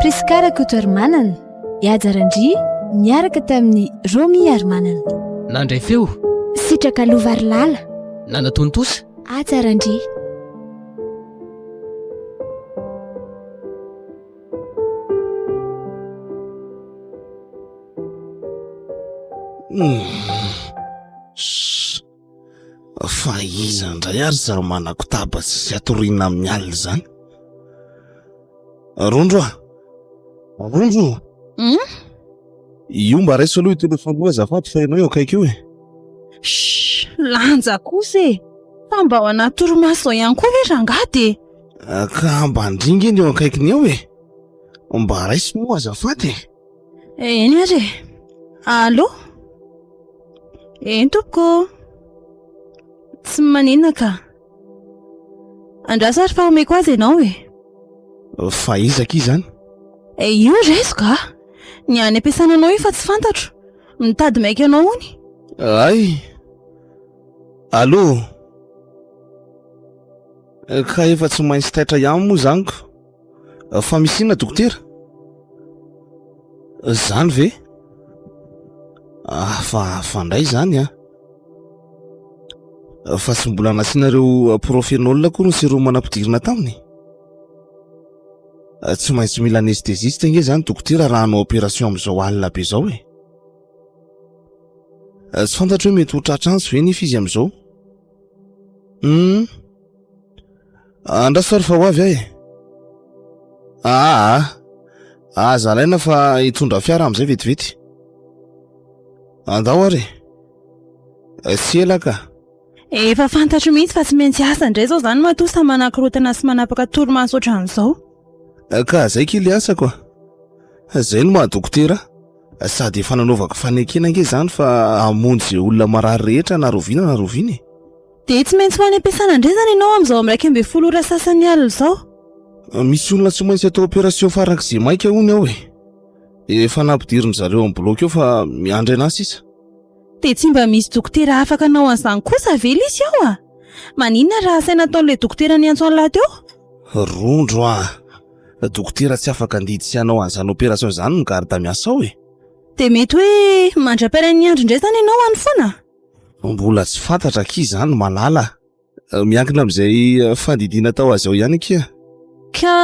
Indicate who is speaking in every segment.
Speaker 1: Prisca Rakotoarimanana, Ihaja Randria niaraka tamin'i Romy Harimanana. Nandray feo.
Speaker 2: Sitraka
Speaker 1: Lovarilala. Nanatontosa.
Speaker 2: Haja Randria.
Speaker 3: Shhh. Fa iza indray ary izany manakotaba sy tsy atoriana amin'ny alina izany? Rondro ah! Rondro! Hum? Io mba raiso aloha io telefaonina io azafady fa ianao eo akaiky io e! Shh! Lanja
Speaker 4: kosa e! Fa mba ao anaty torimaso izao ihany koa ve rangahy dia? Ka mba ndringa
Speaker 3: eny eo akaikiny eo e! Mba raiso moa azafady e! Eny ary e.
Speaker 4: Allo Eny tompoko. Tsy maninona ka. Andraso ary fa omeko azy ianao e. Fa
Speaker 3: iza akia izany? E io
Speaker 4: rezo ka. Ny any am-piasana anao io fa tsy fantatro. Mitady maika anao hono. Ay.
Speaker 3: Allo Ka efa tsy maintsy taitra ihany moa izany ko. Fa misy inona dokotera? Zany ve? Ah, fa fandray zany ah. Fa tsy mbola nasinareo profenol koa ny sirop manampidirina taminy? Ah, tsy maintsy mila anesthésiste nge zany dokotera raha hanao opération amin'izao alina be zao eh. Ah, tsy fantatro hoe mety ho tratra antsy ve nefa izy amin'izao? Hum. Andraso fa ry fa ho avy ahy. Aa, aza alaina fa hitondra fiara amin'izay vetivety. Andao ary. Tsy ela ka. Efa
Speaker 4: fantatro mihitsy fa tsy maintsy asa indray izao izany matoa samy manakorontana sy manapaka torimaso ohatran'izao. Ka
Speaker 3: izay kely asako. Izay no maha-dokotera. Sady efa nanaovako fanekena ange izany fa hamonjy olona marary rehetra na rahoviana na rahoviana e. Dia tsy maintsy
Speaker 4: ho any am-piasana indray izany ianao amin'izao amin'ny iraika ambin'ny folo ora sasany alina izao. Ah, misy olona
Speaker 3: tsy maintsy atao opération farak'izay maika hono ao e. Dia efa nampidirin-dry zareo amin'ny bloc eo fa miandry anà sisa. Dia tsy mba
Speaker 4: misy dokotera afaka hanao an'izany kosa ve lisy ao ah? Maninona raha asaina ataon'ilay dokotera niantso an'lah teo? Rondro ah!
Speaker 3: Dokotera tsy afaka handidy sy hanao an'izany opération izany ny garde miasa ao e. Dia mety hoe
Speaker 4: mandra-piara-niandry indray izany ianao any foana? Mbola tsy
Speaker 3: fantatra akia izany malala a! miankina amin'izay fandidiana atao azy ao ihany akia. Ka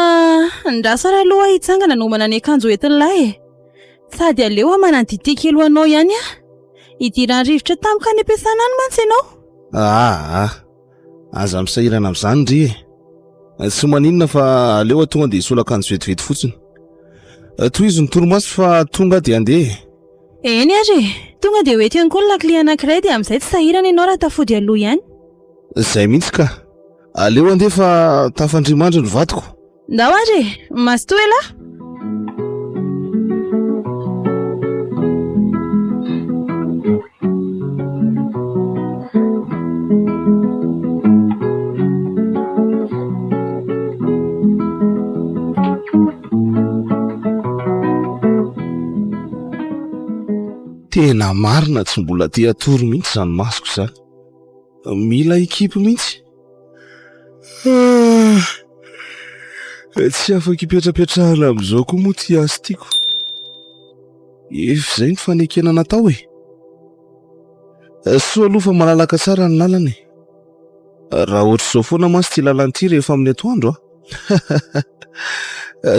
Speaker 4: andrasana aloha aho hitsangana hanomana ny akanjo hoentin'lah e! sady aleo aho manaditya kely ho anao ihany a! hidiran'ny rivotra tamiko any am-piasana any mantsy ianao. Aa.
Speaker 3: Aza misahirana amin'izany ry e. Eh, tsy maninona fa aleo atoa dia hisolo akanjo vetivety fotsiny. Eh, tohizo ny torimaso fa tonga dia andeha. Eny ary e.
Speaker 4: Tonga dia ho eto ihany koa ny lakile anankiray dia amin'izay tsy sahirana ianao raha tafody aloha ihany. Izay mihitsy
Speaker 3: ka. Aleo andeha fa tafandrimandry ny vadiko. Ndao ary e!
Speaker 4: Mazotoa elah!
Speaker 3: Tena marina tsy mbola te hatory mihitsy izany masoko izany. Mila équipe mihitsy. Tsy afaka ipetrapetrahana amin'izao koa moa ity asa ity ko. Efa izay ny fanekena natao e. Soa aloha fa malalaka tsara ny lalana e. Raha ohatr'izao foana mantsy ity lalana ity rehefa amin'ny atoandro a.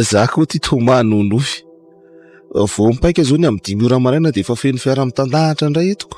Speaker 3: Za koa ty Thomas nonofy. Vao mipaika izao ny amin'ny dimy ora maraina dia efa feno fiara mitandahatra indray eto ko.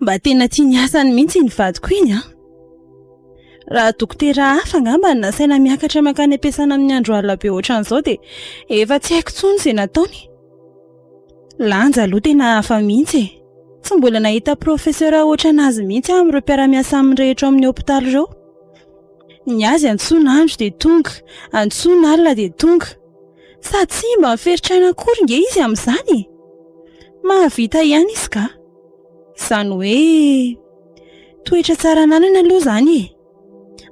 Speaker 4: Mba tena tia ny asany mihitsy iny vadiko iny an! Raha dokotera hafa angamba no nasaina miakatra mankany am-piasana amin'ny andro alina be ohatran'izao dia efa tsy haiko intsony izay nataony. Lanja aloha tena hafa mihitsy e! Tsy mbola nahita profesera ohatran'azy mihitsy aho amin'ireo mpiara-miasa aminy rehetra ao amin'ny hopitaly ireo. Ny azy antsoina andro dia tonga, antsoina alina dia tonga. Sady tsy mba miferitra aina akory ange izy amin'izany e! Mahavita ihany izy kah! Izany hoe toetra tsara ananana aloha izany e.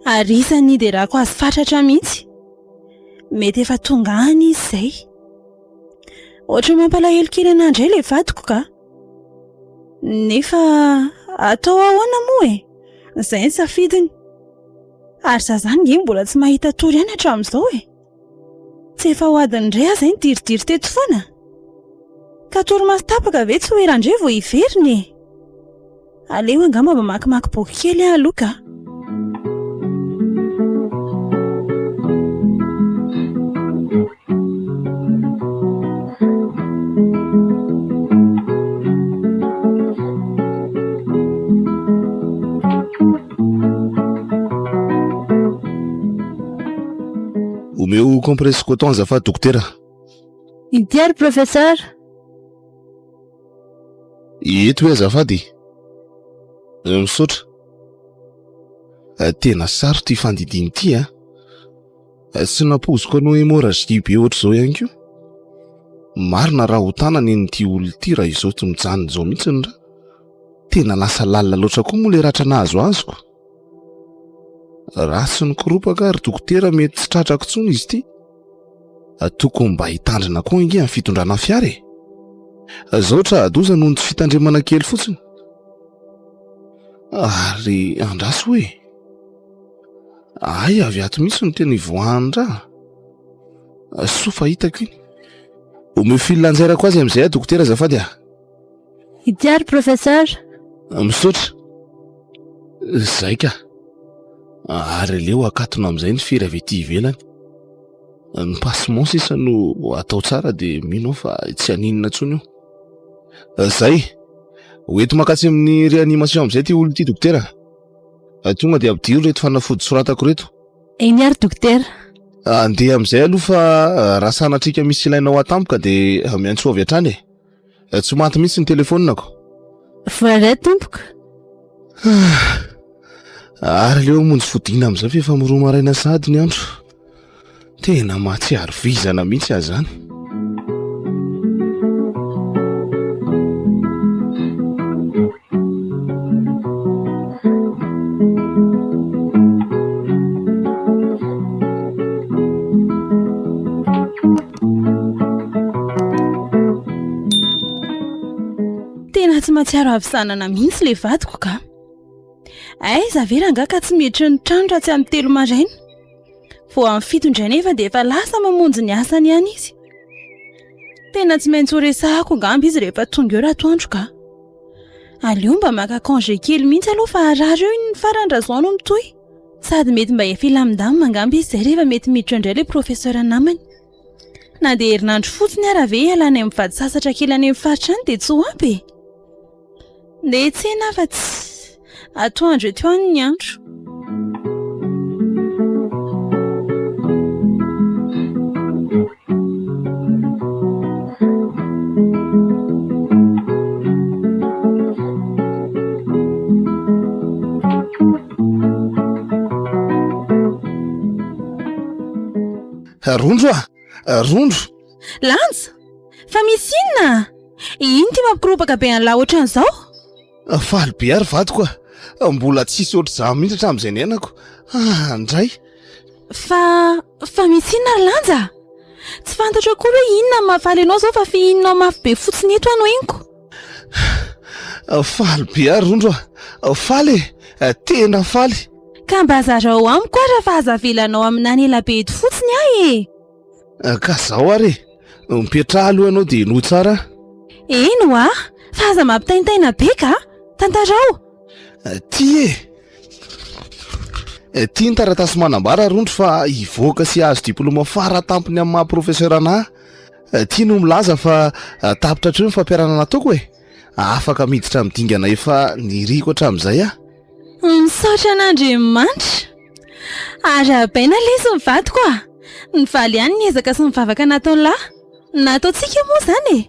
Speaker 4: Ary isan'ny niderako azy fatratra mihitsy. Mety efa tonga any izy izay. Ohatran'ny mampalahelo kely anà indray ilay vadiko ka. Nefa atao ahoana moa e. Izay ny safidiny. Ary izaho izany ange mbola tsy mahita tory ihany hatramin'izao e. Tsy efa ho adiny indray aza iny diridiry teto foana? Ka torimaso tapaka ve tsy ho ela indray vao hiverina e? Aleo angamba mamakimaky boky kely aho aloha ka.
Speaker 3: Omeo compresse coton azafady dokotera. Inty
Speaker 1: ary professeur.
Speaker 3: Eto hoe azafady e. Eh, misaotra. Eh, tena sarotra ity fandidiana ity a. Eh. Tsy nampoiziko anao hémorragie be ohatr'izao ihany koa. Marina raha ho tanana iny ity olona ity raha izao tsy mijanona izao mihitsy ny ra. Tena lasa lalina loatra koa moa ilay ratra nahazo azy ko. Ratsy ny koropaka ry dokotera mety tsy tratrako intsony izy ity. Tokony mba hitandrina koa ange amin'ny fitondrana fiara e. Zao tra adoza noho ny tsy fitandremana kely fotsiny. Ary andraso hoe. Ay avy ato mihitsy no tena ivoahan-draha. Soa fa hitako iny. Omeo fil anjairako azy amin'izay aho dokotera azafady ah. Ity
Speaker 1: ary professeur. Misaotra.
Speaker 3: Izay ka. Ary aleo akatona amin'izay ny firy avy ety ivelany. Ny passement sisa no atao tsara dia mino aho fa tsy haninona intsony io. Izay. Ho ety makasy amin'ny réanimation amin'izay ity olona ity dokotera. Tonga dia ampidiro ireto fanafody soratako ireto. Eny ary
Speaker 1: dokotera. Andeha
Speaker 3: amin'izay aloha fa raha sanatriaka misy ilainao atampoka dia miantsoa avy hatrany e. Eh, tsy maty mihitsy ny telefonako. Foiret
Speaker 1: tompoko.
Speaker 3: Ary leo monjy fodina amin'izay fa efa miroa maraina sady ny andro. Tena mahatsiaro vizana mihitsy azany.
Speaker 4: mahatsiaro avy sanana mihitsy le vadiko ka ay zavera nga ka tsy mietry ny trano raha tsy amin'ny telo maraina vo amin'ny fito indray nefa dia efa lasa mamonjy ny asany ihany izy Tena tsy maintsy horesahako angamba izy rehefa tonga eo ratoandro ka. Aleo mba maka congé kely mihitsy aloha fa harary eo iny farany raha izao no mitohy. Sady mety mba hifilamindamina angamba izy izay rehefa mety miditra indray ilay professeur namany. Na dia herinandro fotsiny ary ve hialana any amin'ny vady sasatra kely any amin'ny faritra any dia tsy ho ampy e? Ndeha hiantsena aho fa tsy. Atoandro eto ihany ny andro.
Speaker 3: Rondro a! Rondro. Lanja!
Speaker 4: Fa misy inona? Ino ity mampikorobaka be an'lah ohatran'izao? Faly
Speaker 3: be ary vadiko ah. Mbola tsy hisy ohatr'izany mihitsy hatramin'izay niainako. Ah, ndray! Fa,
Speaker 4: fa misy inona ry Lanja? Tsy fantatro akory hoe inona no mahafaly anao izao fa fihininao mafy be fotsiny eto aho no henoko.
Speaker 3: Faly be ary Rondro ah. Faly e! Eh, tena faly! Ka mba zarao
Speaker 4: amiko ary fa aza avelanao amin'any ela be eto fotsiny aho e! Ah, ka
Speaker 3: zao ary e mipetraha aloha ianao dia henoy tsara eny hoa
Speaker 4: fa aza mampitaintaina be ka tantarao ah, ty
Speaker 3: e eh, ty ny taratasy manambara rondro fa hivoaka sy azo diploma fara tampony amin'ny maha professeur ana eh, ty no milaza fa ah, tapitra hatreo ny fampiarana nataoko e afaka miditra amin'ny dingana efa niriko hatramin'izay
Speaker 4: ah
Speaker 3: Misaotra
Speaker 4: an'Andriamanitra. Arahabaina ilay izy ny vadiko a! Nivaly ihany ny ezaka sy ny vavaka nataon'lah. Nataontsika io moa izany e!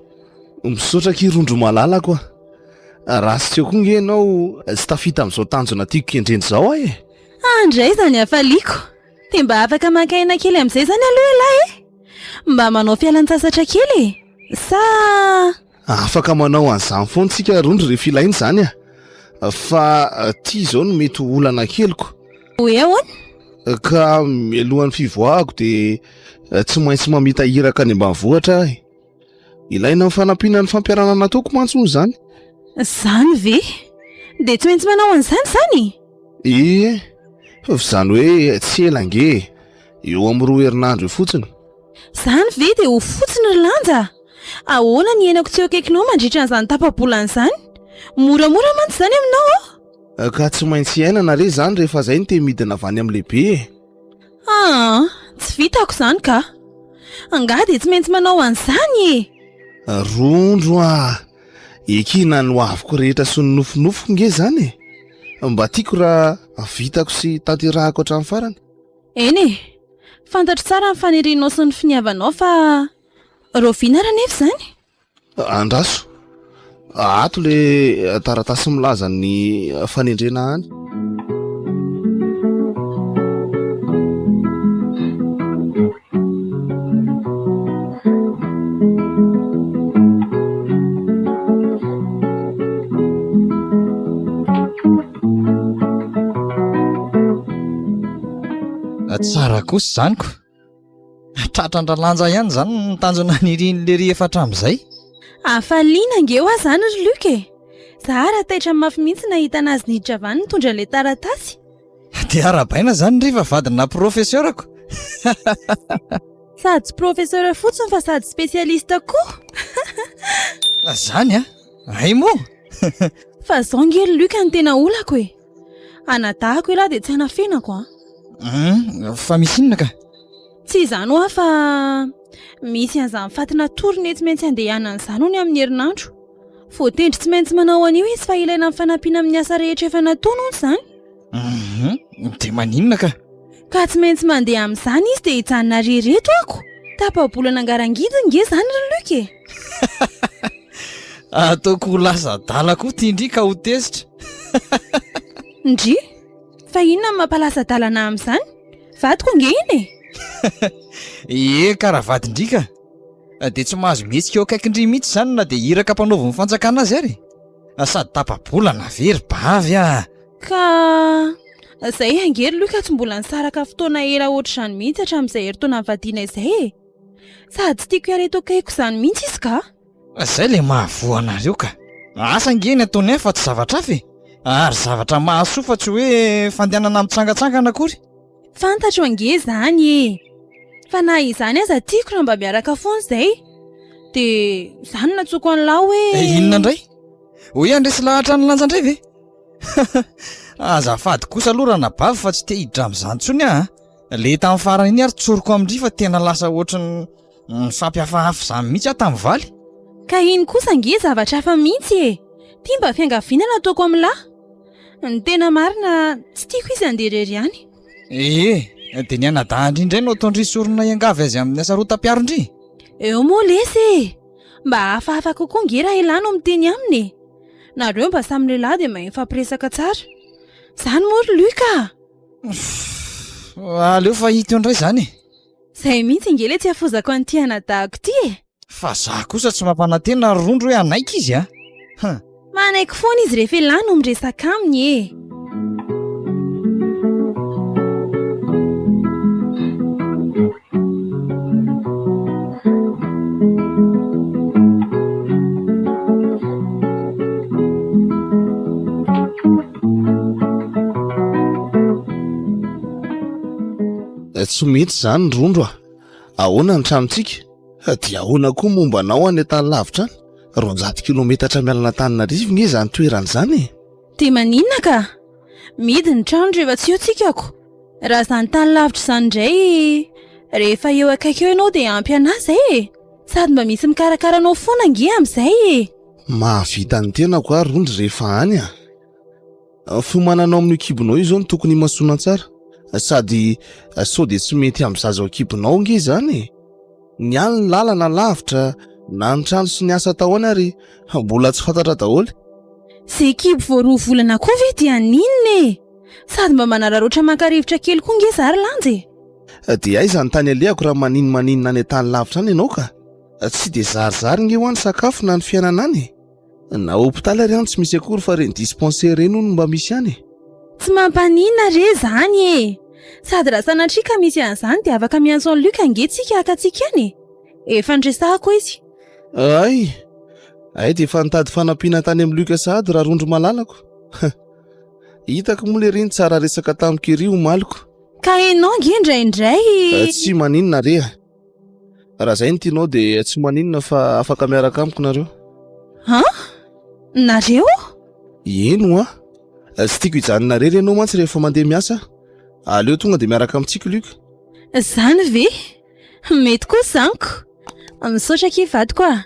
Speaker 4: Misaotra akia
Speaker 3: Rondro malalako a! Ratsy teo koa nge ianao tsy tafita amin'izao tanjona tiako kendrena izao aho e! An dray izany
Speaker 4: hafaliako! Dia mba afaka maka aina kely amin'izay izany aloha ialahy e! Mba manao fialantsasatra kely e! Sa.
Speaker 3: Afaka manao an'izany foana tsika rondry rehefa ilaina izany a! Fa ty izao no mety ho olana keliko. Hoe ahoana?
Speaker 4: Ka
Speaker 3: mialohan'ny fivoahako dia tsy maintsy mamita iraka any ambanivohitra aho e! Ilaina ny fanampiana ny fampiharana nataoko mantsy hono izany. Izany
Speaker 4: ve? Dia tsy maintsy manao an'izany izany? Ie, fa
Speaker 3: izany hoe tsy ela ange e! Eo amin'ny roa herinandro eo fotsiny. Izany ve
Speaker 4: dia ho fotsiny ry Lanja? Ahoana ny henako tsy eo akaikinao mandritra an'izany tapa-bolana izany? Moramora mantsy izany aminao aho. Eh, ka tsy maintsy
Speaker 3: iainana re izany rehefa izay no te midina avy any amin'ny lehibe e. Ah,
Speaker 4: tsy vitako izany ka. Angaha dia tsy maintsy manao an'izany e. Rondro
Speaker 3: ah, ekina ny hoaviko rehetra sy ny nofinofiko nge izany e. Mba tiako raha vitako sy tanterahako hatramin'ny farany. Eny e!
Speaker 4: Fantatro tsara ny fanirianao sy ny finiavanao fa raoviana ary anefa izany? Andraso!
Speaker 3: Ato ilay taratasy milaza ny fanendrena any.
Speaker 5: Tsara kosa izany ko. Tratran-dRalanja ihany izany ny tanjona nirian'i Lery efa hatramin'izay. Hafaliana
Speaker 4: ange ho ahy izany ry Luc e. Za ara taitra mafy mihitsy nahita anazy nidravany nitondra ilay taratasy. Dia
Speaker 5: arabaina izany ry fa vadina profeseurako.
Speaker 4: Sady professeur fotsiny fa sady spécialiste koa.
Speaker 5: Zany an. Hay moa! Fa
Speaker 4: izao ange ry Luc no tena olako e! Anadahako ialahy dia tsy hanafenako an! Hum,
Speaker 5: fa misy inona ka? Tsy izany
Speaker 4: hoa fa misy an'izany faty natory nety tsy maintsy handehanana izany hono amin'ny herinandro. Voatendry tsy maintsy manao an'io izy fa ilaina amin'ny fanampiana amin'ny asa rehetra efa nataony hono izany. Hum
Speaker 5: dia maninona ka? Ka tsy maintsy
Speaker 4: mandeha amin'izany izy dia hijanona re ireto ako. Tapa-bolana angarangidy nge izany ry Luc e.
Speaker 5: Ataoko ho lasa adala koa ity ndry ka ho tezitra.
Speaker 4: Ndry? Fa inona no mampalasa adala anah amin'izany? Vadiko nge iny e. Ie ka raha vadin-dry
Speaker 5: ka. Dia tsy mahazo mihetsika eo akaikin-dry mihitsy izany na dia iraka ampanaoviny fanjakana azy ary. Sady tapa-bolana ve ry bavy a! Ka
Speaker 4: izay ange ry Luc tsy mbola nisaraka fotoana ela ohatr'izany mihitsy hatramin'izay herintaona nivadiana izay e! Sady tiako hiala eto akaikiko izany mihitsy izy ka! Izay ilay
Speaker 5: mahavoa anareo ka! Asa ange ny ataony ahy fa tsy zavatra hafa e! Ary zavatra mahasoa fa tsy hoe fandehanana mitsangantsangana akory! Fantatro ange
Speaker 4: izany e! Fa na izany aza tiako raha mba miaraka foana izay! Dia izany no nantsoiko an'lah hoe. Dia inona indray?
Speaker 5: Ho hiandresy lahatra ny lanja indray ve? Azafady kosa aloha ranabavy fa tsy te hiditra amin'izany intsony aho a. Ilay tamin'ny farany iny ary tsoriko amin-dry fa tena lasa ohatry ny mifampihafahafa izany mihitsy aho tamin'ny valy. Ka iny kosa
Speaker 4: ange zavatra hafa mihitsy e! Ity mba fiangaviana no ataoko amin'ny lahy. Ny tena marina, tsy tiako izy handeha irery any. Ee,
Speaker 5: dia ny anadahin-dry indray no ataon-dry sorona hiangavy azy amin'ny hasarotam-piaron-dry? Eo moa lesy
Speaker 4: e! Mba hafahafa kokoa ange raha i lahy no miteny aminy e! Nareo mba samy lehilahy dia mahay mifampiresaka tsara. Izany moa ry Luc ah!
Speaker 5: Aleo fa hita eo indray izany e! Izay mihitsy
Speaker 4: ange ilay tsy hafozako an'ity anadahako ity e! Fa za kosa
Speaker 5: tsy mampanantena ry Rondro hoe hanaiky izy a! Huh! Manaiky
Speaker 4: foana izy rehefa ialahy no miresaka aminy e!
Speaker 3: tsy mety zany rondro a ahoana ny tranontsika dia ahoana koa momba anao any an-tany lavitra any roanjato kilometatra mialana an-taninarivo nge zany toerana izany e Dia maninona ka?
Speaker 4: Mihidy ny trano rehefa tsy eo tsika ko. Raha izany tany lavitra izany indray rehefa eo akaiky eo ianao dia ampy an'ahy izay e! Sady mba misy mikarakara anao foana ange amin'izay e! Mahavita ny
Speaker 3: tenako ary rondry rehefa any a! Fiomananao amin'io kibonao io izao no tokony himasoana tsara. Sady sao dia tsy mety amin'ny zaza ao an-kibonao ange izany e! Nialy ny lalana lavitra na ny trano sy ny asa taoany ary mbola tsy fantatra daholo. Ze
Speaker 4: kibo vao roa volana koa ve dia haninona e! Sady mba manararaotra maka rivotra kely koa nge za ry Lanja e! Dia aiza
Speaker 3: ny tany alehako raha maninomaninona any an-tany lavitra any ianao ka! Tsy dia zarizary nge hoa ny sakafo na ny fiainana any e! Na hôpitaly ary any tsy misy akory fa ireny dispensaire ireny hono mba misy any e. Tsy mampaninona
Speaker 4: re zany e. Sady raha sanatria ka misy an'izany dia afaka miantso an'i Luc ange tsika haka antsika any e. Efa niresahako izy. Hay,
Speaker 3: hay dia efa nitady fanampiana tany amin'i Luc sahady raha rondro malalako. Hitako moa lery iny tsara resaka tamiko ery omaly ko. Ka ianao ange
Speaker 4: indraindray. Tsy maninona
Speaker 3: re a. Raha zay ny tianao dia tsy maninona fa afaka miaraka amiko nareo. Ha?
Speaker 4: Nareo? Eno
Speaker 3: a! Tsy tiako hijanona rery ianao mantsy rehefa mandeha miasa. Aleo tonga dia miaraka amintsika Luc. Zany
Speaker 4: ve? Mety koa zaniko. Misaotra akia vadiko a.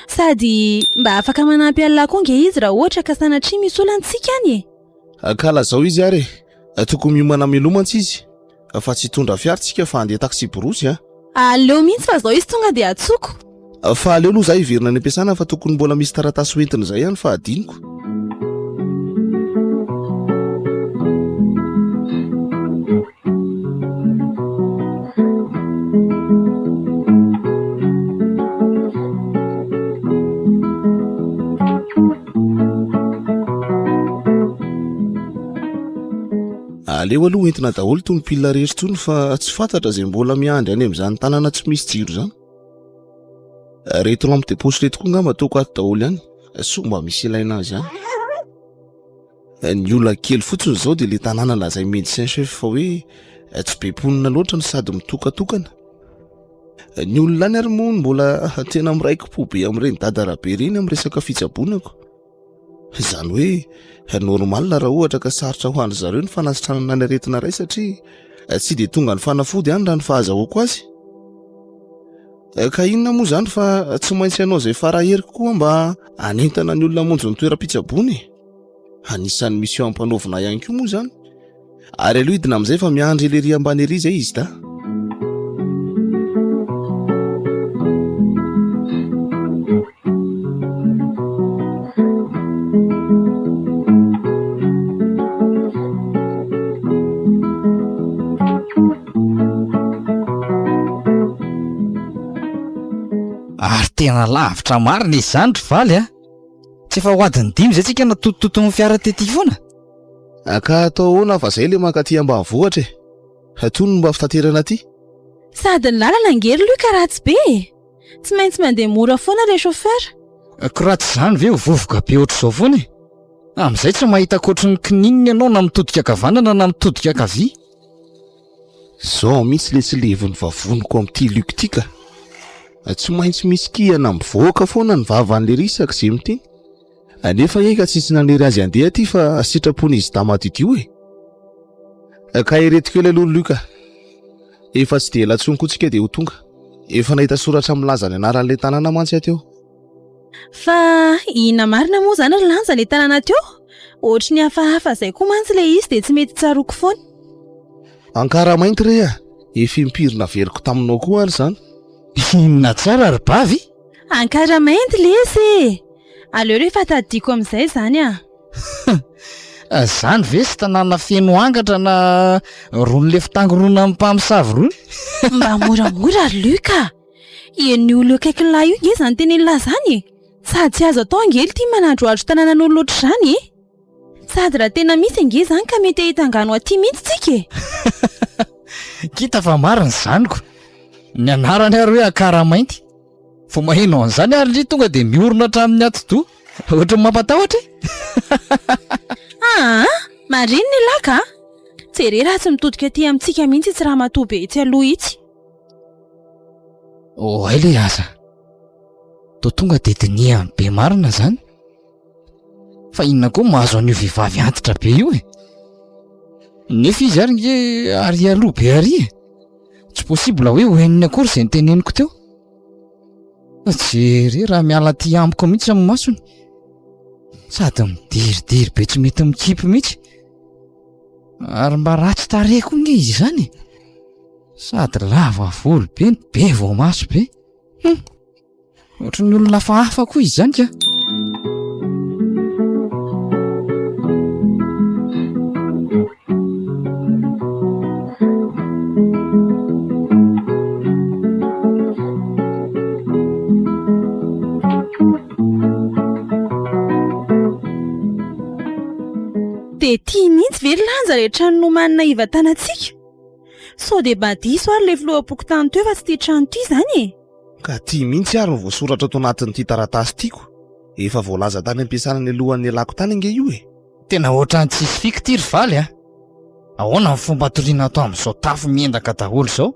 Speaker 4: Sady mba afaka manampy an'lah koa nge izy raha ohatra ka sanatria misy olana tsika any e. Kala zao izy ary
Speaker 3: e. Tokony miomana mialoha mantsy izy fa tsy hitondra fiara tsika fa handeha taxi borosy a. Aleo mihitsy
Speaker 4: fa zao izy tonga dia atsoko. Fa aleo aloha
Speaker 3: za hiverina any am-piasana fa tokony mbola misy taratasy ho entina izay ihany fa hadinoko. aleo aloha hoentina daholo tony pilina rehetra tony fa tsy fantatra zay mbola miandry any am'izany tanàna tsy misy jiro zany reto lampe de poche reto koa ngamba ataoko ato daholo ihany soa mba misy ilaina azy any Ny olana kely fotsiny izao dia ilay tanàna lazain'ny médecin chef fa hoe eh, tsy be mponina loatra no sady mitokatokana. Eh, ny olona any ary moa mbola tena miraiki-po be amin'ireny dadarabe ireny amin'ny resaka fitsabonako. Izany hoe eh, normal raha ohatra ka sarotra ho an'dry zareo ny fanasitranana ny aretina iray satria tsy dia tonga ny fanafody any raha ny fahazahoako azy. Eh, ka inona moa izany fa tsy maintsy ianao izay fara heriko koa mba hanentana ny olona monjy ny toeram-pitsabony Anisan'ny mission ampanaovina ihany koa moa zany. Ary aloha hidina amin'izay fa miandry ery ambany ery izay izy da.
Speaker 5: Ary tena lavitra marina izany ry valy a! Tsy efa ho adin'ny dimy izay tsika natotitoton'ny fiara tety foana? Ka
Speaker 3: atao ahoana fa zay le mankaty ambanivohitra e! Atoy no mba fitaterana aty. Sady ny
Speaker 4: lalana ange ry Luc ratsy be e! Tsy maintsy mandeha mora foana ilay chauffeur. Ko raha tsy
Speaker 5: izany ve ho vovoka be ohatr'izao foana e! Amin'izay tsy mahita ankoatry ny kininina ianao na mitodika ankavanana na mitodika ankavia.
Speaker 3: Zao mihitsy le tsy levon'ny vavoniko amin'ity Luc ity ka. Tsy maintsy misy kihana mivoaka foana ny vavan'le Risak ze mity. Nefa anie ka tsisy nanery azy handeha aty fa sitrapon'izy dama didio e. Ka ireto kely aloha Luc a. Efa tsy dia ela intsony koa tsika dia ho tonga. Efa nahita soratra milaza ny anaran'le tanàna mantsy aho teo. Fa
Speaker 4: inona marina moa izany ry Lanja ilay tanàna teo? Ohatry ny hafahafa izay koa mantsy ilay izy dia tsy mety tsaroako foana.
Speaker 3: Ankaramainty re a! Efa impiry naveriko taminao koa ary izany. Inona
Speaker 5: tsara ry Bavy? Ankaramainty
Speaker 4: lesy e! Aleo re efa tadidiako amin'izay izany a!
Speaker 5: Izany ve sy tanàna feno angatra na rony lefon-tangoronan'ny mpamosavy rony? Mba
Speaker 4: moramora ry Luc a! Ian'io olona eo akaikin'lah io nge zany tenen'lah zany e! Sady tsy azo atao ange lty manadrohadro tananan'olo ohatr'izany e! Sady raha tena misy ange zany ka mety hahita angano aty mihitsy tsika e! K'hita
Speaker 5: fa marina zaniko, ny anarany ary hoe Akaramainty. Vao maheno an'izany ary lhy tonga dia miorina hatramin'ny atidoha. Ohatran'ny mampatahotra e! Aa!
Speaker 4: Marina elah ka! Jereo raha tsy mitodika aty amintsika mihitsy itsy ramatoa be itsy aloha itsy.
Speaker 5: Oay le aza to tonga de dinihan'ny be marina zany fa inona koa mahazo an'io vehivavy antitra be io e nefa izy ary nge ary aloha be ary e tsy possible hoe ho henony akory zay ny teneniko teo fa jere raha miala ty amiko mihitsy amin'ny masony sady midiridiry be tsy mety mikipy mihitsy ary mba ratsy tarehy koa nge izy izany e Sady lava volo be no be voamaso be. Hum! Ohatry ny olona hafahafa koa izy izany kah!
Speaker 4: Dia tia mihitsy ve ny lanja rehetra nomanina hivantanantsika? Sao dia mba diso ary ilay filoham-pokontany teo fa tsy ity trano ity izany e? Ka ity mihitsy
Speaker 3: ary no voasoratra ato anatin'ity taratasy ity ko. Efa voalaza tany am-piasana nialohan'ny nialako tany ange io e! Tena ohatran'ny tsisy
Speaker 5: fika ity ry Faly a! Ahoana ny fomba hatoriana ato amin'izao tafo miendaka daholo izao?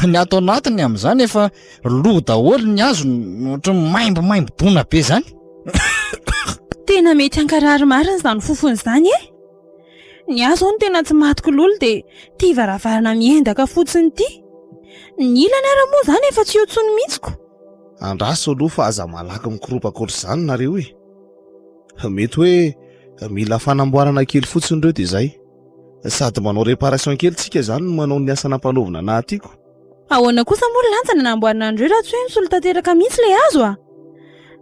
Speaker 5: Ny ato anatiny amin'izany efa lo daholo ny hazo ohatran'ny maimbomaimbo-doana be izany.
Speaker 4: Tena mety hankarary marina izany fofona izany e! Ny ahy izao no tena tsy maty kololo dia ity varavarana miendaka fotsiny ity. Ny ilany ary moa izany efa tsy eo intsony mihitsy ko. Andraso
Speaker 3: aloha fa aza malaky mikorompaka ohatr'izany nareo e! Mety hoe mila fanamboarana kely fotsiny ireo dia izay. Sady manao réparation kely tsika izany no manao ny asa nampanaovina anahy ity ko. Ahoana kosa
Speaker 4: moa ry lanjany ny hanamboarana an'ireo raha tsy hoe misolo tanteraka mihitsy ilay hazo a!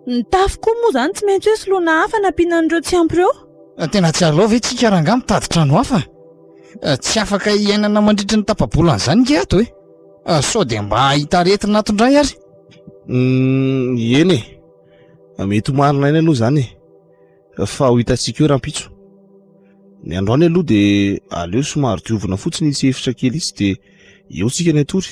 Speaker 4: Ny tafo koa moa izany tsy maintsy hoe soloina hafa nampiana an'ireo tsy ampy ireo. Tena tsy aleo ve
Speaker 5: isika rangahy mitady trano hafa? Tsy afaka hiainana mandritry ny tapa-bolana izany nge ato e! Sao dia mba hahita aretina ato indray ary?
Speaker 3: Eny e! Mety ho marina ihany aloha izany e! fa ho hitantsika eo rahampitso. Ny androany aloha dia aleo somary diovina fotsiny itsy efitra kely itsy dia eo tsika ny atory.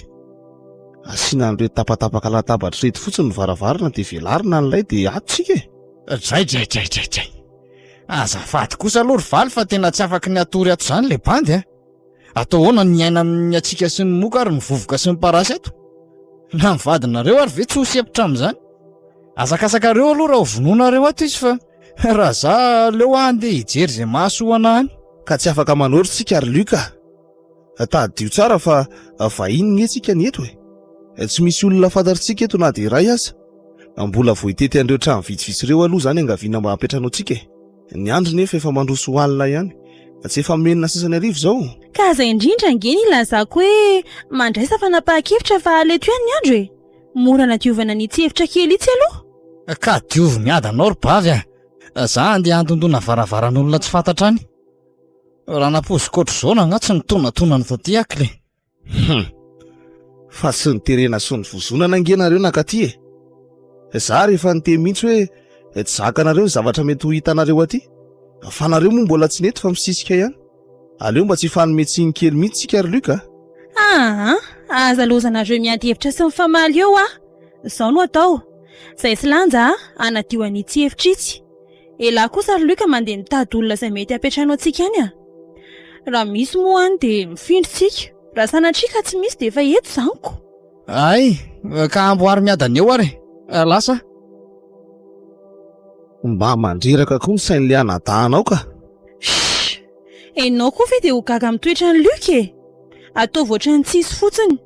Speaker 3: Asiana an'ireo tapatapaka latabatra reto fotsiny ny varavarana dia velarina an'ilay dia ato tsika e. Dray dray dray dray
Speaker 5: dray. Azafady kosa aloha ry Valy fa tena tsy afaka ny hatory ato izany ilay bandy a. Atao ahoana ny miaina amin'ny hatsiaka sy ny moka ary ny vovoka sy ny parasy eto? Na ny vadinareo ary ve tsy ho sempotra amin'izany? Azakasakareo aloha raha ho vonoinareo ato izy fa raha za aleo aho andeha hijery izay mahasoana any. Ka tsy afaka manoro
Speaker 3: tsika ry Luc ah. Tadidio tsara fa vahiny anie tsika ny eto e. Tsy misy olona fantatritsika eto na dia iray aza. Mbola vao hitety an'ireo trano vitsivitsy ireo aloha izany angaviana mba hampiantrano antsika e. Ny andro nefa efa mandroso ho alina ihany. Fa tsy efa menina sasany arivo izao? Ka izay indrindra
Speaker 4: ange ny ilazako hoe mandraisa fanapahan-kevitra fa aleto ihany ny andro e! Mora nadiovana ny tsy efitra kely itsy aloha. Ka diovy
Speaker 5: miady anao ry bavy a! Za handeha handondona varavaran'olona tsy fantatra any. Ranampoizikoatr'izao na angaha tsy nitonatona ny taty akle. Hum.
Speaker 3: Fa tsy niterena sy nivozonana ange nareo nakaty e. Za rehefa niteny mihitsy hoe tsy zakanareo ny zavatra mety ho hitanareo aty. Fa nareo moa mbola tsy nety fa misisika ihany. Aleo mba tsy hifanome tsiny kely mihitsy tsika ry Luc a. Aa,
Speaker 4: aza lozanareo miady hevitra sy mifamaly eo a. Zao no atao. Zay tsy lanja a, hanadio an'itsy efitra itsy. Elah kosa ry Luc mandeha mitady olona izay mety hapetrahanao antsika any a! Raha misy moa any dia mifindra isika. Raha sanatria ka tsy misy dia efa eto izany ko! Hay!
Speaker 5: Ka amboary miadana eo ary e! Lasa
Speaker 3: a! Mba mandreraka koa ny sain'ilay anadahinao ka! Shh! Enao
Speaker 4: koa ve dia ho gaga amin'ny toetran'i Luc e! Ataovy ohatran'ny tsy hisy fotsiny.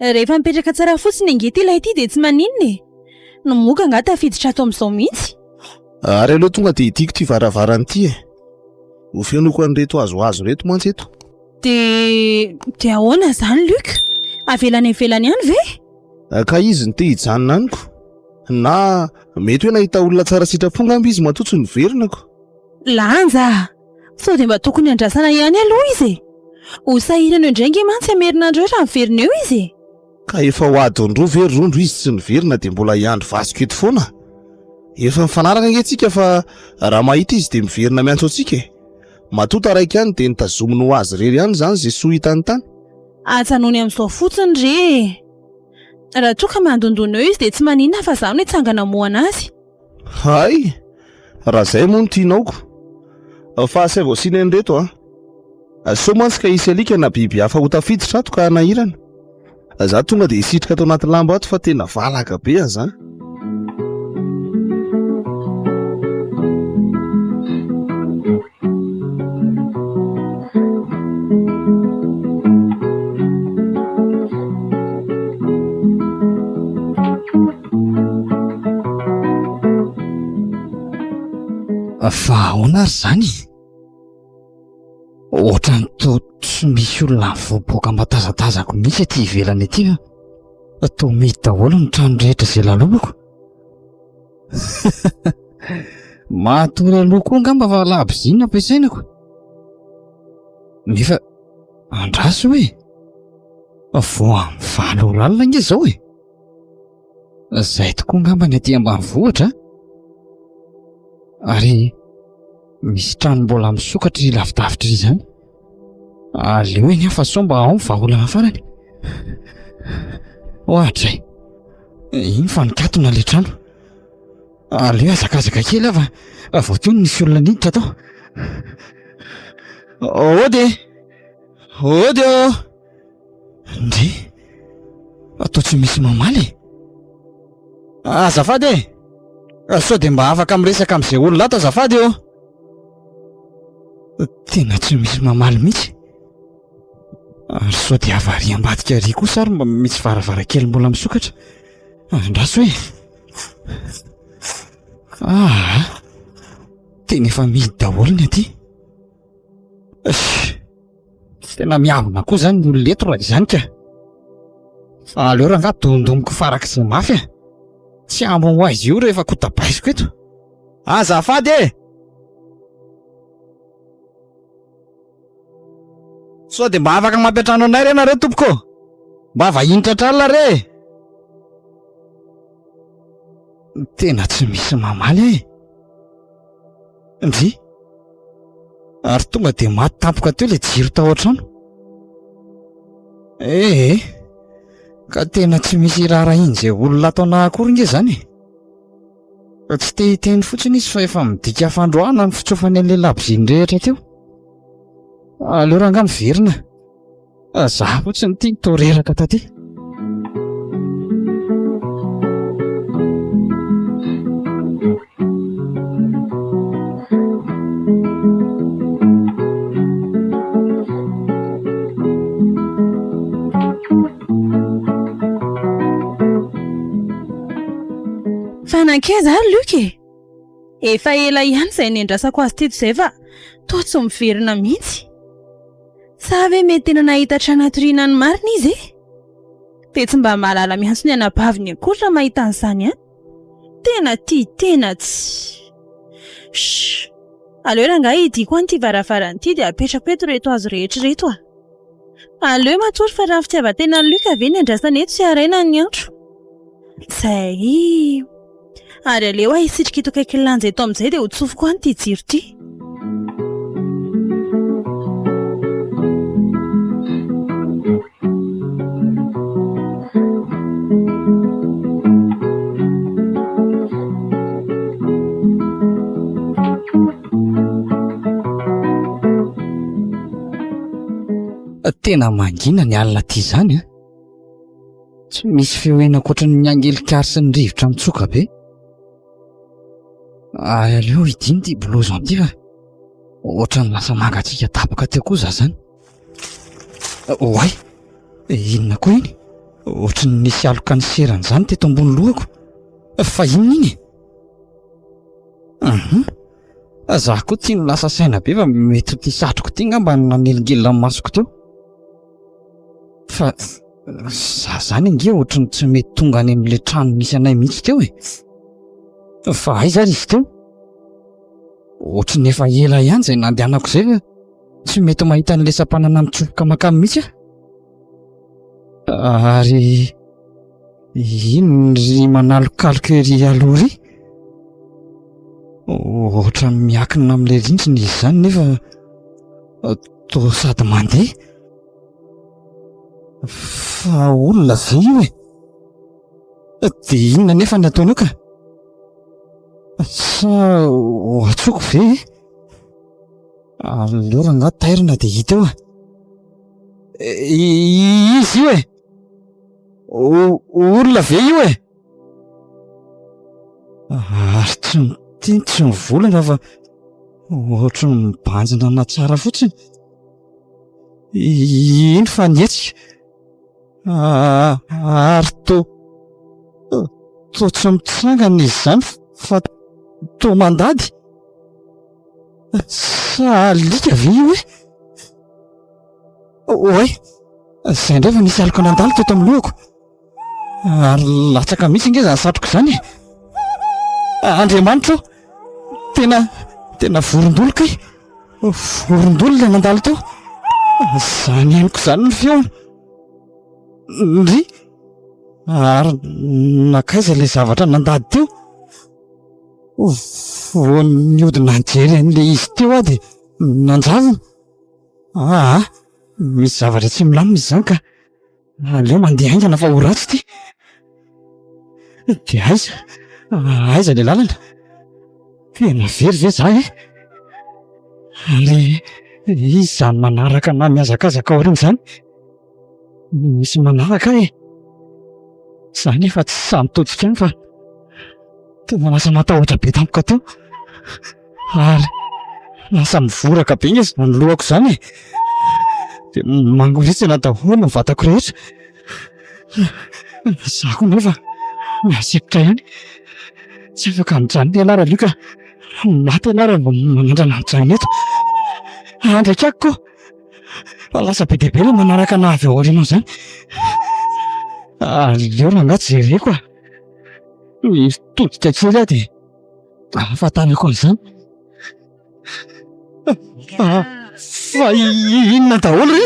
Speaker 4: Rehefa mipetraka tsara fotsiny ange ity lahy ity dia tsy maninona e. Ny moka angaha tafiditra ato amin'izao mihitsy. Ary aleo
Speaker 3: tonga dia hidiko ity varavarana ity e. Ho fenoiko an'ireto hazohazo ireto mantsy eto. Dia
Speaker 4: dia ahoana izany Luc? Avela any ivelany ihany ve? Ka izy no te hijanona
Speaker 3: amiko. Na mety hoe nahita olona tsara sitrapo angamba izy matoa tsy noverenako. Lanja
Speaker 4: a! Sao dia mba tokony andrasana ihany aloha izy e! Ho sahirana eo indray ange mantsy i Amerina andreo raha miverina eo izy e! Ka efa ho
Speaker 3: adiny roa ve ry Rondro izy tsy niverina dia mbola hiandry vatsiko eto foana? Efa mifanaraka ange tsika fa raha mahita izy dia miverina miantso antsika e! Matoa taraiky ihany dia notazominy ho azy irery ihany izany izay soa hitany tany. Ajanony
Speaker 4: amin'izao fotsiny re e! Raha toa ka mandondona eo izy dia tsy maninona fa izaho no hitsangana hamohana azy. Hay!
Speaker 3: Raha izay moa no tianaoko. Fa asaivo asiana an'ireto an! Sao mantsy ka hisy alika na biby hafa ho tafiditra ato ka hanahirana. Izaho tonga dia hisitrika ato anaty lamba ato fa tena valaka be aza an!
Speaker 5: Fa ahoana ary izany? Ohatran'ny toa tsy misy olona mivoaboaka aman-tazatazako mihitsy ety ivelany ety fa toa mihidy daholo ny trano rehetra izay lalobako. Matory aloha koa angamba fa labozia no ampiasaina ko. Nefa andraso hoe fa vao amin'ny valo ora alina ange izao e. Izay tokoa angamba ny aty ambanivohitra an. Ary misy trano mbola misokatra lavidavitra izany. Aleo anie fa sao mba ao ny vahaolana farany. Ohatra e. Iny fa nikatona ilay trano. Aleo hazakazaka kely aho fa vao teo no nisy olona niditra tao. Ody e! Ody ô! Ndry! Atao tsy misy mamaly e! Azafady e! Sao dia mba afaka miresaka amin'izay olona ato azafady ô! Tena tsy misy mamaly mihitsy. Ary sao dia avariam-badika ery kosa ary mba misy varavarankely mbola misokatra. Andraso e! Aa! Tena efa mihidy daholo ny aty. Tena miavona koa izany ny olona eto raha izany ka. Fa aleo rangahy dondomiko farak'izay mafy e! Tsy hambo ho aiza io rehefa kotabaiziko eto. Azafady e! Sao dia mba afaka mampiantrano anay re nareo tompoko ô! Mba vahiny tratr'alina re e! Tena tsy misy mamaly ahy e! Ndry! Ary tonga dia maty tampoka teo ilay jiro tao an-trano. Ehe, ka tena tsy misy iraharahian'izay olona ataonao akory nge izany e! Fa tsy te hiteny fotsiny izy fa efa midika fandroahana ny fitsofany an'ilay labozia nirehitra teo. Aleo rangahy miverina fa za fotsiny ity no toa reraka taty.
Speaker 4: Fa nankaiza ary Luc e? Efa ela ihany izay nendrasako azy teto izay fa toa tsy miverina mihitsy. Sa ve mety tena nahita trano hatoriana ny marina izy e? Dia tsy mba mahalala miantso ny anabaviny akory raha mahita an'izany an! Tena tia tena tsy. Shh! Aleo rangahy hidiako any ity varavarana ity dia apetrako eto ireto hazo rehetra ireto a! Aleo matory fa raha ny fitiavan-tenan'i Luc ve no iandrasana eto tsy haraina ny andro. Izay. Ary aleo aho hisitrika eto akaikin'ny lanja eto amin'izay dia ho tsofiko any ity jiro ity.
Speaker 5: tena mangina ny alina ty zany a eh? tsy misy feoena ankoatra ny angelikary sy ny rivotra mitsoka be Ary aleo hidino ity blouson ity fa ohatran'ny lasa mangatsiaka tapaka teo koa za zany. Oay! Inona koa iny? Ohatran'ny nisy aloka ny serany zany teto ambony lohako. Fa inona iny e? Uhum. Za koa tsy lasa saina be fa mety ity satroko ity ngamba no nanelingelina ny masoko teo. Fa za zany ange ohatry ny tsy mety tonga any amle trano misy anay mihitsy teo e fa aiza ary izy teo ohatry ny efa ela ihany zay nandehanako zay fa tsy mety mahita anle sampanana mitsofoka makany mihitsy aho ary Inona ry manalokaloka ery aloha ry? Ohatran'ny miankina amin'ilay rindrina izy izany nefa toa sady mandeha. Fa olona ve io e? Dia inona anefa no ataonao ka? Sa ho antsoiko ve e? Aleo rangahy tairina dia hita eo a! Iza io e? olona ve io e? Ary tsy mitia, tsy mivolagna fa ohatry ny mibanjina ana tsara fotsiny. Ino fa nihetsika? Ary toa toa tsy mitsangana izy izany fa toa mandady. Sa alika ve io e? Oay! Izay indray vao nisy aloka nandalo teto amin'ny lohako. Ary latsaka mihitsy ange izany satroka izany e! Andriamanitra o! Tena, tena vorondolo kay! Vorondolo ilay nandalo teo! Izany henoko izany ny feony! Ndry! Ary nankaiza ilay zavatra nandady teo? Vao nihodina nijery an'ilay izy teo aho dia nanjavona. Aa! Misy zavatra tsy milamina izany ka! Aleo mandeha haingana fa ho ratsy ity! Dia aiza? Aiza ilay lalana? Tena very ve izaho e? Ary iza izany manaraka na mihazakazaka aoriana izany? Misy manaraka ahy e! Za anefa tsy sahy mitodika any fa tena lasa matahotra be tampoka teo ary lasa mivoraka be nge zany lohako zany e! dia mangoritsina daholo ny vatako rehetra, za koa anefa mahasikotra ihany, tsy afaka mijanona ianarana io ka maty ianarana vao manandrana mijanona eto, andrakako koa. Fa lasa be dia be ilay manaraka anà avy ao aoriana izany. Aleo rangahy tsy jereko ah. Mitodika kely aho dia ahafantarako an'izany. Fa fa inona daholo re?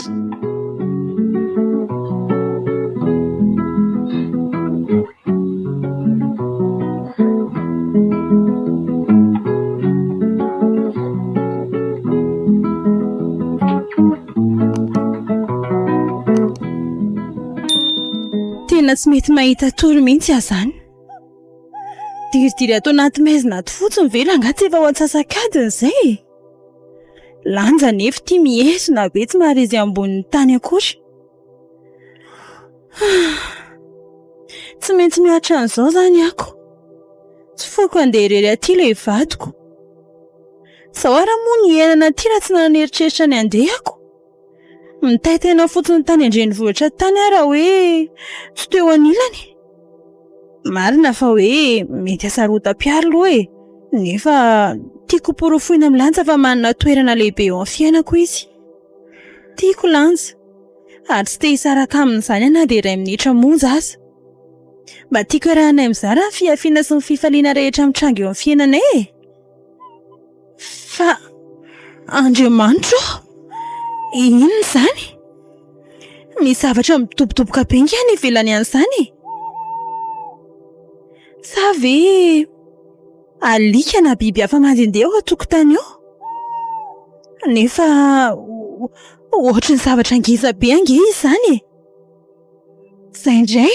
Speaker 4: Tena tsy mety mahita tory mihitsy aho izany. Diridiry ato anaty maizina ato fotsiny ve rangahy tsy efa ho antsasak'adiny izay e? Lanja anefa ity mihezona be tsy maharesy ambonin'ny tany akory. Tsy maintsy miaritra an'izao izany ako. Tsy foiko handeha irery aty ilay vadiko. Izao ary moa ny hiainana aty raha tsy nanieritreritra ny handeha ako. Mitaitaina fotsiny tany an-drenivohitra tany aho raha hoe tsy teo anilany. Marina fa hoe mety hasarotam-piaro aloha e, nefa tiako hoporofoina amin'ny lanja fa manana toerana lehibe eo amin'ny fiainako izy. Tiako lanja. ary tsy te hisaraka amin'izany na dia iray minitra monja aza. Mba tiako iarahanay mizara ny fihafiana sy ny fifaliana rehetra mitranga eo amin'ny fiainanay e! Fa Andriamanitra ô! Inona izany? Misy zavatra midobodoboka be ange any ivelany an'izany e! Sa ve... Alika na biby hafa mandehandeha eo an-tokotany eo. Nefa ohatry ny zavatra ngeza be ange izy izany e! Izay indray.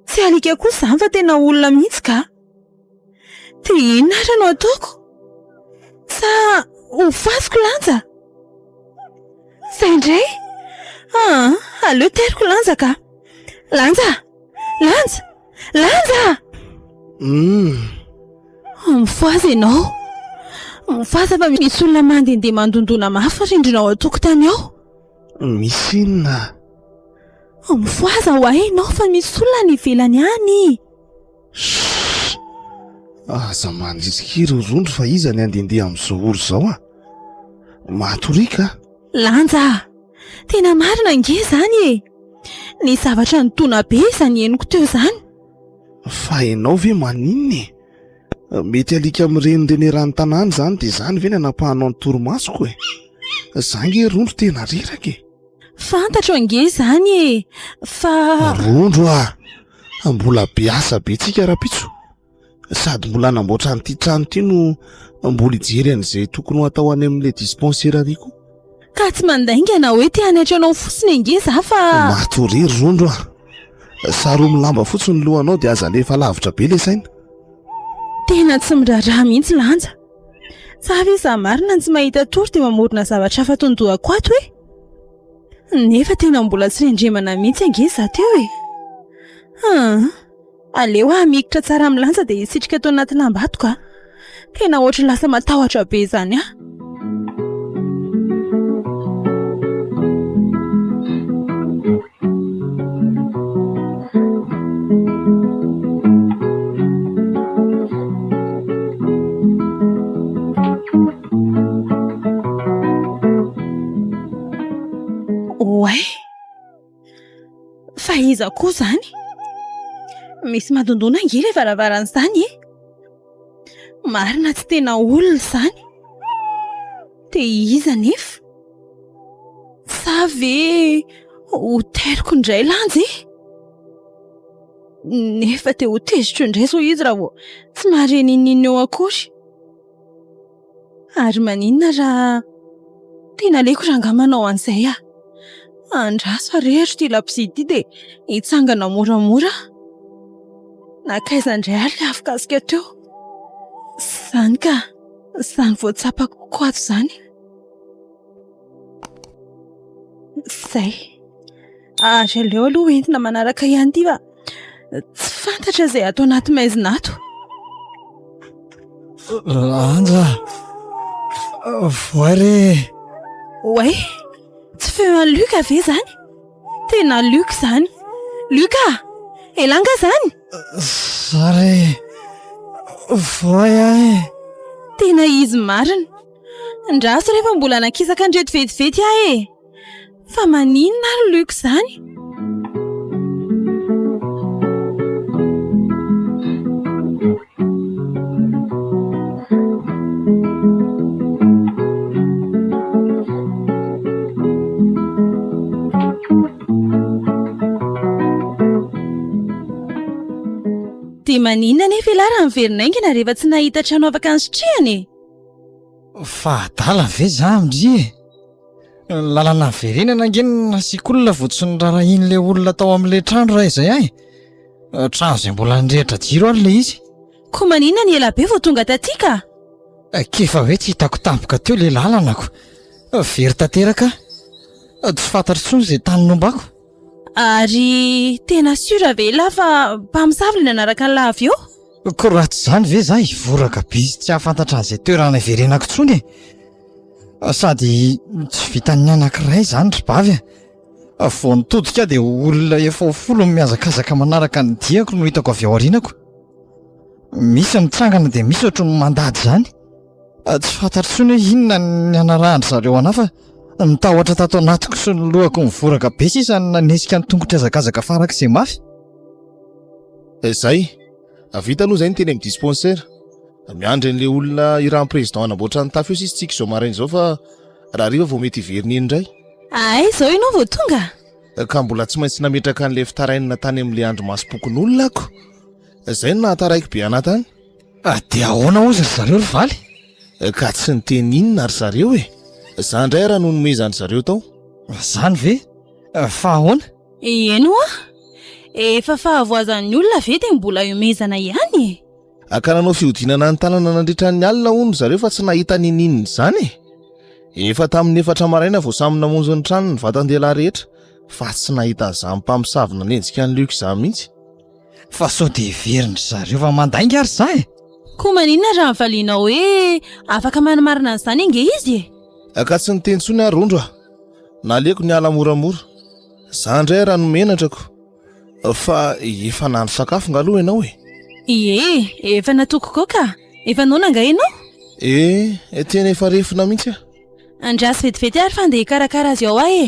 Speaker 4: Tsy alika kosa izany fa tena olona mihitsy kah. Dia inona ary no ataoko? Sa hofasiko lanja? Izay indray. Aleo teriko lanja kah. Lanja! Lanja! Lanja! Uhm. Oh, mifohaza ianao. Mifohaza fa misy olona mandehandeha mandondona mafy ny rindrina ao an-tokotany ao. Misy
Speaker 3: inona? Oh,
Speaker 4: mifohaza ho ahy ianao fa misy olona any ivelany any. Shh!
Speaker 3: Aza mandrisika ireo rondro fa iza ny handehandeha amin'izao ora izao ah? Mahatoriaka. Lanja
Speaker 4: a! Tena marina ange izany e! Nisy zavatra nitona be izany henoko teo izany. Fa
Speaker 3: ianao ve maninona e? Mety alika mirenireny eran'ny tanàna izany dia izany ve no anapahanao ny torimasoko e? Izaho ange rondro tena reraka e! Fantatro
Speaker 4: ange izany e! Fa. Rondro a!
Speaker 3: Mbola be asa be tsika rahampitso sady mbola hanamboatra an'ity trano ity no mbola hijery an'izay tokony ho atao any amin'ilay dispensaire-ary koa ka tsy
Speaker 4: mandaingana hoe te hanaiky anao fotsiny ange za fa matoria ry rondro
Speaker 3: a saroa milamba fotsy ny lohanao dia aza alefa lavitra be le saina tena
Speaker 4: tsy miraharaha mihitsy lanja fa ve za marina ny tsy mahita tory dia mamorona zavatra hafa tondohako ato e nefa tena mbola tsy rendremana mihitsy ange za teo e aa Aleo aho mikitra tsara milanja dia hisitrika eto anaty lambato ka. Tena ohatry lasa matahotra be izany aho. Oay. Fa iza koa izany? Misy madondona ange ilay varavarana izany e! Marina tsy tena olona izany. Dia iza anefa? Sa ve hoteriko indray lanja e? Nefa dia hoteziko indray izao izy raha vao tsy mahare n'inon'inona eo akory. Ary maninona raha tena aleoko rangahy manao an'izay aho. Andraso ary hero ity labozia ity dia hitsangana moramora aho. Nankaiza indray ary ilay afokasoka teo? Izany ka! Izany vao tsapako ho ko ato izany. Izay. Ary aleo aloha entina manaraka ihany ity fa tsy fantatra izay ato anaty maizina ato.
Speaker 5: Lanja. Voay re. Oay.
Speaker 4: Tsy feo an'i Luc ve izany? Tena Luc izany. Luc ah! Elah angaha izany? Za re.
Speaker 5: Voay aho e. Tena
Speaker 4: izy marina. Andraso rehefa mbola nakisaka an'ireto vetivety ahy e. Fa maninona ary Luc izany? Dia maninona anefa ialahy raha miverina aingana rehefa tsy nahita trano afaka nisitrihana e? Fa
Speaker 5: adala ve za ndry e? Ny lalana niverenana ange no nasiako olona vao tsy norarahian'ilay olona tao amin'ilay trano raha izay ahy. Trano izay mbola nirehitra jiro ary ilay izy. Koa maninona ny
Speaker 4: ela be vao tonga taty ka? K'efa
Speaker 5: hoe tsy hitako tampoka teo ilay lalanako. Very tanteraka aho. Tsy fantatro intsony izay tany nombako. Ary
Speaker 4: tena sûr ve ilah fa mpamosavy ilay nanaraka an'ilah avy eo? Ko raha tsy izany
Speaker 5: ve izaho hivoraka be sy tsy hahafantatra an'izay toerana hiverenako intsony e! Sady tsy vitan'ny anankiray izany ry bavy a! Vao nitodika aho dia olona efa ho folo no mihazakazaka manaraka ny diako no hitako avy ao aorianako. Misy mitsangana dia misy ohatry ny mandady izany. Tsy fantatro intsony hoe inona ny hanarahan-dry zareo an'ahy fa ny tahotra tato anatiko sy ny lohako nivoraka be sisa no nanetsika ny tongotro hiazakazaka farak'izay mafy.
Speaker 3: Izay. Vita aloha izay ny teny amin'ny dispensaire. Miandry an'ilay olona irahan'ny président hanamboatra ny tafo eo sisa tsika izao maraina izao fa raha hariva vao mety hiverina eny indray. Ahay izao ianao
Speaker 4: vao tonga? Ka mbola tsy
Speaker 3: maintsy nametraka an'ilay fitarainana tany amin'ilay andrimasom-pokonolona aho ko. Izay no nahataraiko be anah tany. Dia ahoana
Speaker 5: ozy ry zareo ry valy? Ka tsy
Speaker 3: niteny inona ry zareo e? Za indray ara no nomezan-dry zareo tao. Zany ve?
Speaker 5: Fa ahoana? Eny hoa!
Speaker 4: Efa fahavoazan'ny olona ve dia mbola iomezana ihany e? Ka nanao
Speaker 3: fihodinana ny tanana nandritra ny alina hono ry zareo fa tsy nahita niniana izany e! Efa tamin'ny efatra maraina vao samy namonjy ny tranony ny vatan-dehilahy rehetra fa tsy nahita an'izany mpamosavy nanenjika an'i Luc izany mihitsy. Fa sao
Speaker 5: dia heverin-dry zareo fa mandainga ary za e! Koa maninona
Speaker 4: raha valianao hoe afaka manamarina an'izany ange izy e? Aka tsy niteny intsony aho
Speaker 3: Rondro a! Naleoko niala moramora. Za indray ary hanome henatra ko! Fa efa nahandro sakafo nga aloha ianao e? Ie,
Speaker 4: efa natoako ko ka! Efa noana nga ianao? Ee,
Speaker 3: tena efa refona mihitsy aho. Andraso vetivety
Speaker 4: ary fa andeha hikarakara azy ao aho e!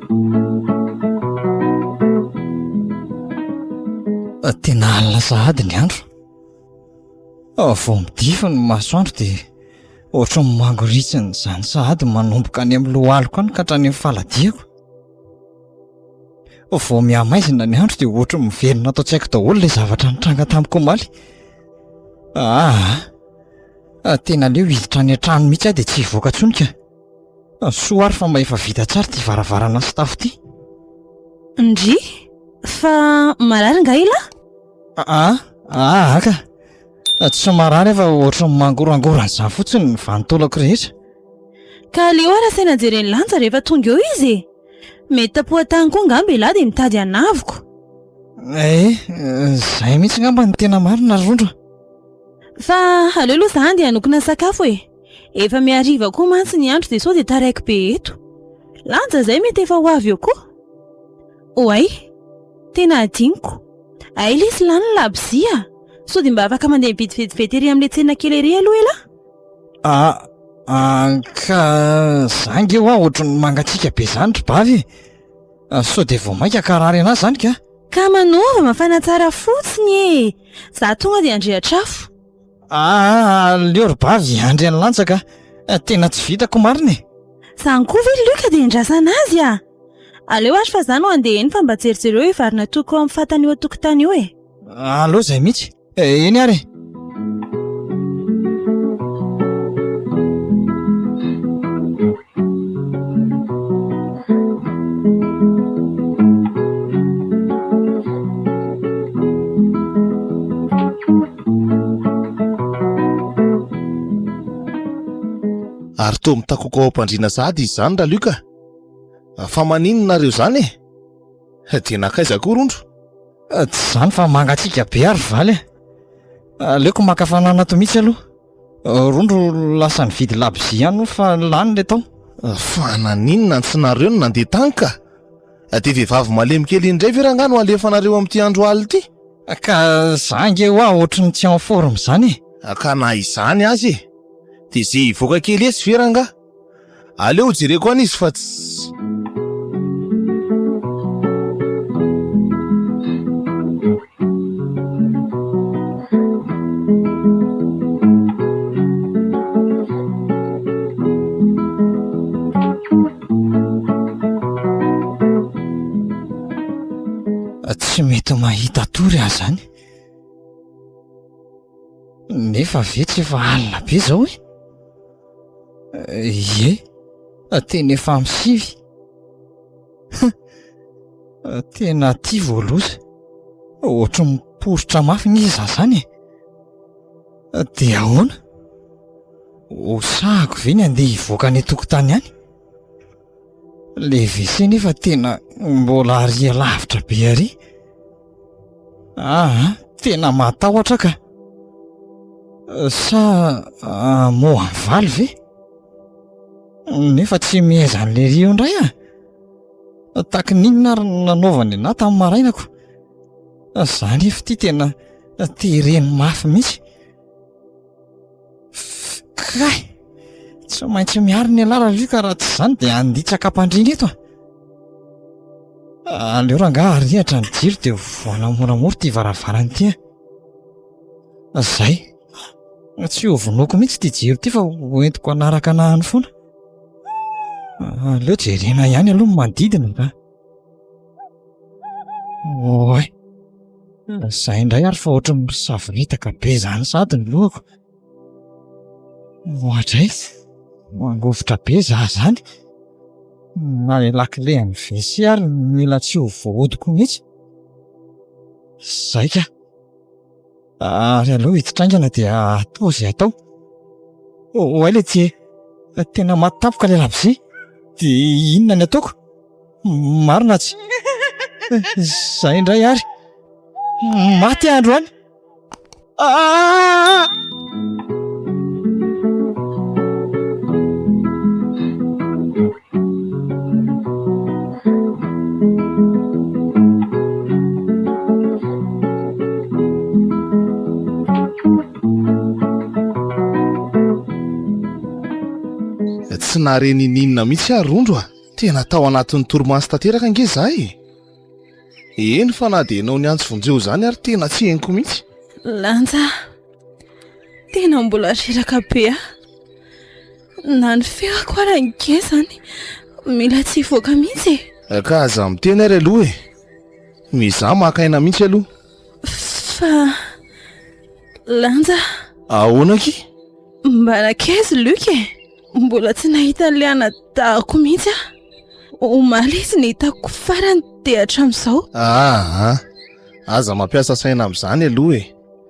Speaker 5: Tena alina sahady ny andro ah, vao midify ny masoandro dia ohatry ny mangoritsiny izany sahady manomboka any amin'ny lohaliko any ka hatrany amin'ny faladiako. Vao mihamaizina ny andro dia ohatry ny miverina ato an-tsaiko daholo ilay zavatra nitranga tamiko omaly. Ah, ah tena aleo hiditra any an-trano mihitsy aho dia tsy hivoaka intsony ka. Soa ary fa mba efa vita tsara ity varavarana sy tafo ity.
Speaker 4: Ndrii, fa marary nga ilah? Aa, aa
Speaker 5: ka, tsy marary aho fa ohatran'ny mangorangorana izany fotsiny ny vanin-taolako rehetra. Ka
Speaker 4: aleo ary asaina jeren'i Lanja rehefa tonga eo izy e! Mety tapohan-tany koa angamba ilah dia mitady hanavoka.
Speaker 5: Ee, izay mihitsy
Speaker 4: angamba no
Speaker 5: tena marina ry Rondra.
Speaker 4: Fa aleo aloha za handeha hanokona sakafo e! Efa mihariva koa mantsy ny andro dia sao dia taraiky be eto. Lanja izay mety efa ho avy eo koa. Oay, tena adinoko. Hay lesy lany ny labozia. Sao dia mba afaka mandeha mividy vetivety ery amin'ilay tsena kely ery aloha ela. Ah, ah,
Speaker 5: ka za nge hoa ohatran'ny mangatsiaka be izany ry bavy e. Ah, sao dia vao mainka ka harary anà izany ka. Ka manova,
Speaker 4: mafana tsara fotsiny e. Za tonga dia handrehitra afo. Ah,
Speaker 5: leo ry bavy, andry any lantsa ka. Eh, tena tsy vitako marina e. Zany koa ve
Speaker 4: Luc dia endrasana azy ah? Aleo ary fa za no andeha eny fa mba jerijereo io vary natoiko ao amin'ny fatana eo an-tokotany io e. Aleo izay mihitsy.
Speaker 5: Eh, eny ary e.
Speaker 3: Ary toa mitakoko ao am-pandriana sahady izy izany Ralioka. Fa maninona nareo izany e? Eh? Dia nankaiza koa Rondro? Eh, tsy izany
Speaker 5: fa mangatsiaka be ary valy e. Eh. Aleoko maka fananana ato mihitsy aloha. Rondro lasa nividy labozia ihany fa lany le tao. Fa naninona
Speaker 3: tsy nareo no nandeha tany ka? Dia vehivavy malemy kely iny indray ve rangahy no alefanareo amin'ity andro alina ity? Ka za
Speaker 5: ange hoa ohatry ny tsy en forme izany e! Ka na izany
Speaker 3: aza e! Dia ze hivoaka kely etsy ve rangahy? Aleo jereko any izy fa tsy
Speaker 5: mety mahita tory ahy zany nefa ve tsy efa alina be zao e Ie, teny efa amin'ny sivy. Huh! Tena aty vao loza. Ohatry ny miporitra mafy ny iza izany e! Dia ahoana? Ho sahako ve ny handeha hivoaka any an-tokotany any? Ilay WC nefa tena mbola ary alavitra be ary. Aa tena matahotra ka. Sa moa mivaly ve? Nefa tsy mihaiza an'ilay ery eo indray aho. Tahaky ny inona ary no nanaovany anah tamin'ny maraina ko. Za nefa ity tena tereny mafy mihitsy. Kay! Tsy maintsy miaro ny anarako izy io ka raha tsy izany dia handitsaka am-pandriana eto ah! Aleo rangaha arihatra ny jiro dia vohana moramora ity varavarana ity an! Izay! Tsy hovonoiko mihitsy ity jiro ity fa hoentiko hanaraka anahiny foana. Aleo jerena ihany aloha ny manodidina ka! Oay! Izay indray ary fa ohatran'ny misavoritaka be izany sady ny lohako. Ohatra aiz, mangovitra be za izany. Na ilay lakile an'ny WC ary mila tsy ho voahodiko mihitsy. Izay ka! Ary aleo ito traingana dia atao izay atao. Oay ilay tsie, tena maty tampoka ilay labozia. Dia inona ny ataoko? Marina tsy? Izay indray ary. Maty aho androany. Ah!
Speaker 3: Tsy nahare n'ininona mihitsy aho Rondro a. Tena tao anatin'ny torimaso tanteraka ange za e. Eny fa na dia ianao niantso vonjeo izany ary tena tsy henoko mihitsy. Lanja,
Speaker 4: tena mbola reraka be aho. Na ny ferako ara nge zany mila tsy hivoaka mihitsy e. Eh, ka aza miteny ary
Speaker 3: aloha e. Mizaha maka aina mihitsy aloha. Fa
Speaker 4: lanja. Ahoana ki?
Speaker 3: Mba
Speaker 4: nakaizy Luc e. Mbola tsy nahita liana dahako mihitsy ah. Omaly izy ny hitako farany dia hatramin'izao. Ah, ah,
Speaker 3: aza mampiasa saina amin'izany aloha e.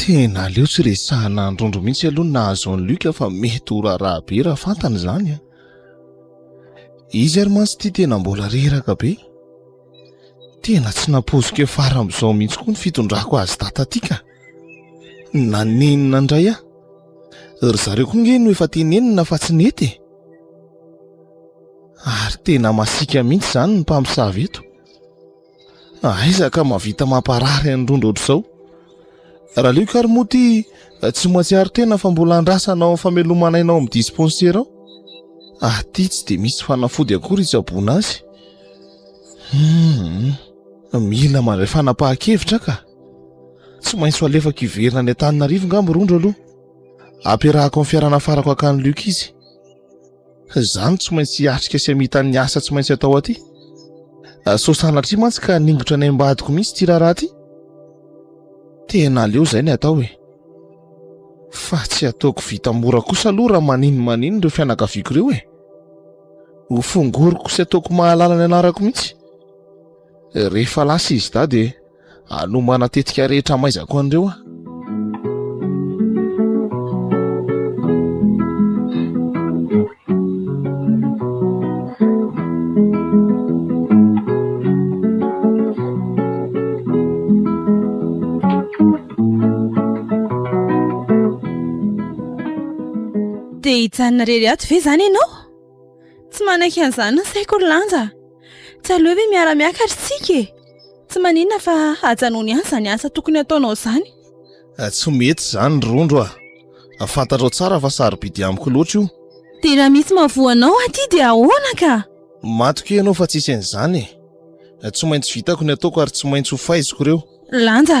Speaker 3: Tena aleo tsy resahana androndro mihitsy aloha ny nahazo an'i Luc fa mety ho raharaha be raha fantany izany an. Izy ary mantsy ity tena mbola reraka be. Tena tsy nampoiziko efa fara amin'izao mihitsy koa ny fitondrako azy tataty ka. Nanenina indray aho. Ry zareo koa nge no efa tenenina fa tsy nety e. Ary tena masika mihitsy izany ny mpamosavy eto. Aiza ka mahavita mamparary an'i Rondra ohatr'izao. Ralio ka ry Moty tsy mahatsiaro tena fa mbola andrasana ao amin'ny famelomana aina ao amin'ny dispensaire ao. Aty tsy dia misy fanafody akory hitsaboana azy. Hmm, mila mandray fanapahan-kevitra ka. Tsy maintsy ho alefako hiverina any Antananarivo ngamba Rondra aloha. Ampiarahako amin'ny fiara nafarako hankany Luc izy. Zany tsy maintsy hiatrika sy hamita ny asa tsy maintsy atao aty. Ah, so sanatria mantsy ka ningotra ny ambadiko mihitsy ity raharaha ty. Tena aleo zay ny atao e. Fa tsy ataoko vita mora kosa aloha raha manino manino ireo fianakaviako ireo e. Ho fongoriko sy ataoko mahalala ny anarako mihitsy. Rehefa lasa izy dahy dia anomana tetika rehetra amaizako an'ireo aho.
Speaker 4: Te hijanona irery ato ve izany ianao? Tsy manaiky an'izany ny saiko ry Lanja. Tsy aleo ve miara-miakatra isika e? Tsy maninona fa ajanony ihany izany asa tokony hataonao izany. Eh, tsy
Speaker 3: mety izany ry Rondro ah. Fantatrao tsara fa sarobidy amiko loatra io. Dia raha misy
Speaker 4: mahavoa anao aty dia ahoana ka? Matokia ianao fa
Speaker 3: tsy hisy an'izany e. Tsy maintsy vitako ny ataoko ary tsy maintsy ho faiziko ireo. Lanja.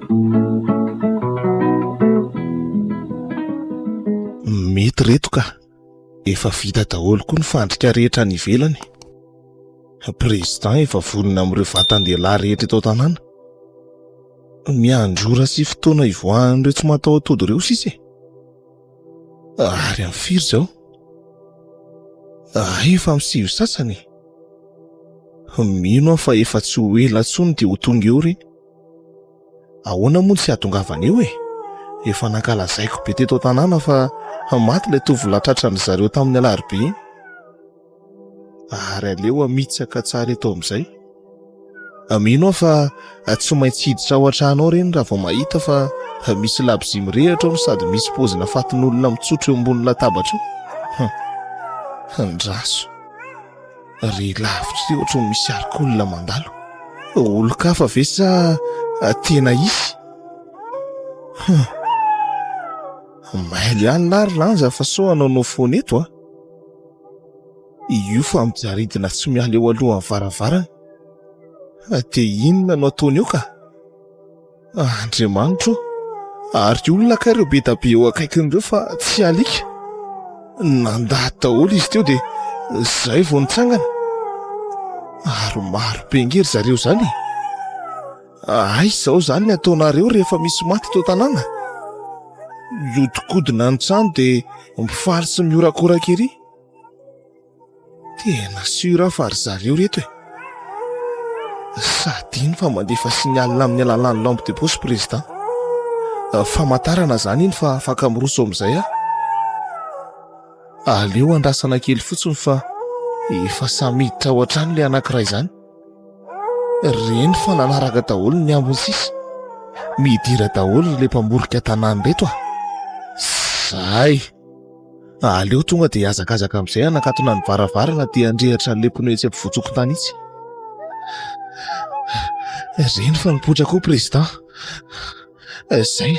Speaker 3: Mety reto ka. Efa vita daholo koa ny fandrika rehetra any ivelany. Président efa vonona amin'ireo vatan-dehilahy rehetra eto an-tanàna. Miandry ora sy fotoana hivoahan'ireo tsy mataho-tody ireo sisa e. Ary amin'ny firy izao? Hay efa amin'ny sivy sasany e. Mino aho fa efa tsy ho ela intsony dia ho tonga eo ireny. Ahoana moa ny tsy hahatongavan'io e? Efa nankalazaiko be teto an-tanàna fa maty ilay tovolahy tratran'ny zareo tamin'ny alarobia iny. Ary aleo hamitsaka tsara eto amin'izay. Mino aho fa tsy maintsy hiditra ao an-trano ao ireny raha vao mahita fa misy labozia mirehitra ao no sady misy pozina fatin'olona mitsotro eo ambony latabatra eo. Hunn. Andraso. re lavitra re ohatry ny misy arik'olona mandalo olon-kafa ve sa tena hisy hum mailo ihany lahy ry lanja fa sao hanao no foana eto a io fa mijaridina tsy miala eo alohan'ny varavarana dia inona no ataony eo ka Ah, Andriamanitra o! Ary olona kay ireo be dia be eo akaikiny ireo fa tsy alika. Nandà daholo izy teo dia izay vao nitsangana. Ary maro be ange ry zareo izany e! Aiza izao izany ny ataonareo rehefa misy maty eto an-tanàna? Mihodinkodina ny trano dia mifaly sy mihorakoraka ery. Tena sûr aho fa ry zareo ireto e! Sady iny fa mandefa signal amin'ny alalan'ny lampe de poche président. Famantarana izany iny fa afaka miroso amin'izay aho. Aleo andrasana kely fotsiny fa efa samy miditra ao an-trano ilay anankiray izany. Ry reny fa nanaraka daholo ny ambiny sisa. Midira daholo ilay mpamorika tanàna ireto a! Zay! Fa aleo tonga dia hazakazaka amin'izay hanakatona ny varavarana aty an-drehitra an'ilay pneu etsy am-pivotsokontany itsy. Reny fa nipoitra koa président. Izay,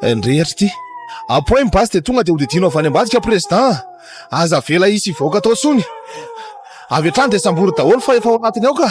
Speaker 3: nirehitra ity. Apohay ny basy dia tonga dia hodidino avy any ambadika président. Aza avela hisy hivoaka tao intsony. Avy hatrany dia sambory daholo fa efa ao anatiny ao ka.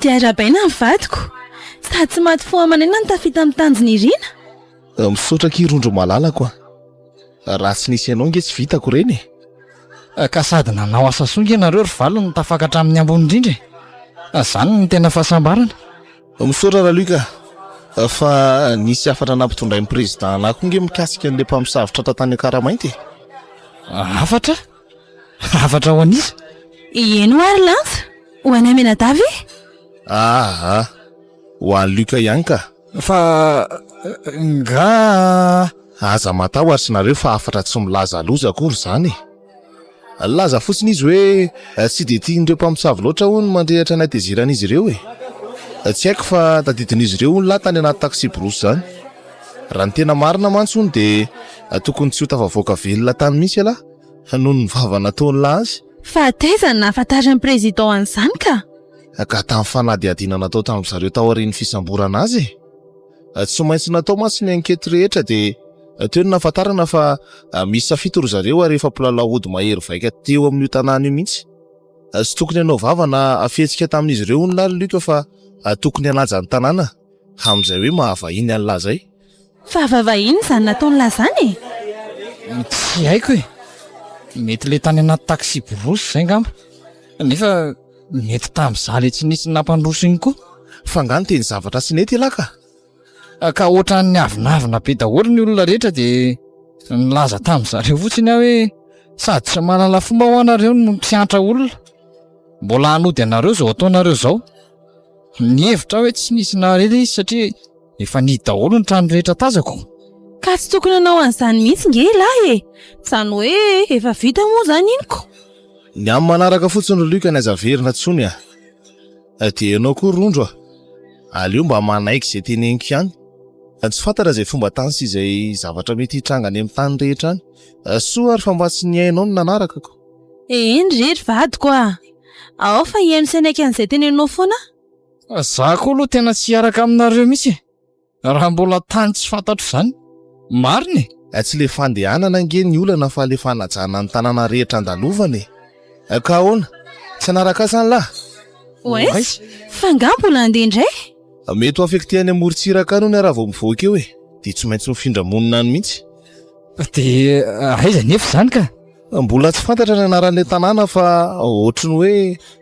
Speaker 4: Dia arahabaina ny vadiko. Sady tsy maty fo aman'aina ny tafita amin'ny tanjon'iriana. Misaotra
Speaker 3: akia Rondro malalako a! Raha tsy nisy anao nge tsy vitako ireny e! Ka
Speaker 5: sady nanao asa soa nge nareo ry valo no tafaka hatramin'ny ambony indrindra e! Zany no tena fahasambarana. Misaotra
Speaker 3: Raluc a! Fa nisy hafatra nampitondrain'ny Président anah koa nge mikasika an'ilay mpamosavy tratra tany Ankara mainty e!
Speaker 5: Hafatra? Hafatra ho an'iza? Ieny hoa
Speaker 4: ry Lantsa. Ho an'i Aminada ve? Aa! Ho
Speaker 3: an'i Luka ihany ka! Fa
Speaker 5: nga.
Speaker 3: Aza matahotra nareo fa hafatra tsy milaza loza akory izany e! Nilaza fotsiny izy hoe tsy dia tian'ireo mpamosavy loatra hono mandrehitra ny hatezeran'izy ireo e! Tsy haiko fa tadidin'izy ireo hono lahy tany anaty taxi-brousse izany. Raha ny tena marina mantsy hono dia tokony tsy ho tafavoaka velona tany mihitsy ialahy. noho ny vava nataon'la azy. Fahataiza ny
Speaker 4: nahafantarin'ny Président an'izany ka! Gaga tamin'ny
Speaker 3: fanadihadiana natao tamin'ny zareo taorian'ny fisamborana azy e! Tsy maintsy natao mantsy ny ankety rehetra dia teo ny nahafantarana fa miisa fito ry zareo ary efa mpilalao ody mahery vaika teo amin'io tanàna io mihitsy. Tsy tokony hanao vava na fihetsika tamin'izy ireo hono la ry Luc fa tokony hanaja ny tanàna amin'izay hoe mahavahiny an'la zay. Fa vavahiny
Speaker 4: izany nataon'lah izany e!
Speaker 5: Tsy haiko e! Mety le tany anaty taxi-brousse izay ngamba. Nefa mety tamin'izah le tsy nisy nampandroso iny koa. Fa nga niteny
Speaker 3: zavatra tsy nety ialahy ka? Ka
Speaker 5: ohatran'ny avonavona be daholo ny olona rehetra de nilaza tamin'zareo fotsiny aho hoe sady tsy mahalala fomba hoa nareo no mpiantra olona mbola hanody anareo zao ataonareo zao. Nihevitra aho hoe tsy nisy nahare le izy satria. Efa nihidy daholo ny trano rehetra tazako. Ka tsy tokony
Speaker 4: hanao an'izany mihitsy nge lahy e! Izany hoe efa vita moa izany inoko? Ny amin'ny
Speaker 3: manaraka fotsiny ry Luc ny aza averina tsony a! Fa dia ianao koa rondro a! Aleo mba manaiky izay teneniko ihany fa tsy fantatra izay fomba tany sy izay zavatra mety hitranga any amin'ny tany rehetra any. Soa ary fa mba tsy ny hainao no nanarakako. Eny re
Speaker 4: ry vadiko a! Ao fa hihaino sy hanaiky an'izay tenenao foana aho. Za
Speaker 5: koa aloha tena tsy hiaraka aminareo mihitsy e! Raha mbola tany tsy fantatro izany. Marina e! Eh, tsy le
Speaker 3: fandehanana ange ny olana fa le fanajana ny tanàna rehetra andalovana e! Eh, ka ahoana? Tsy hanaraka ahy izany lahy? Oes,
Speaker 4: fa nga mbola handeha indray? Eh, mety ho affecté
Speaker 3: any amorontsiraka any hono raha vao mivoaka eo e! Dia tsy maintsy mifindra monina any mihitsy. Dia
Speaker 5: aiza anefa izany ka? Mbola tsy fantatra
Speaker 3: ny anaran'ilay tanàna fa ohatry ny hoe.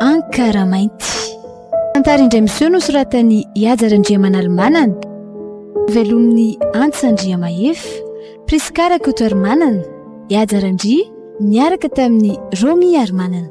Speaker 1: Ankaramainty. Tantara indray miseho nosoratan'i Ihaja Randriamanalomanana, novelomin'i Antsa Andriamahefa, Prisca Rakotoarimanana, Ihaja Randria, niaraka tamin'i Romy Harimanana.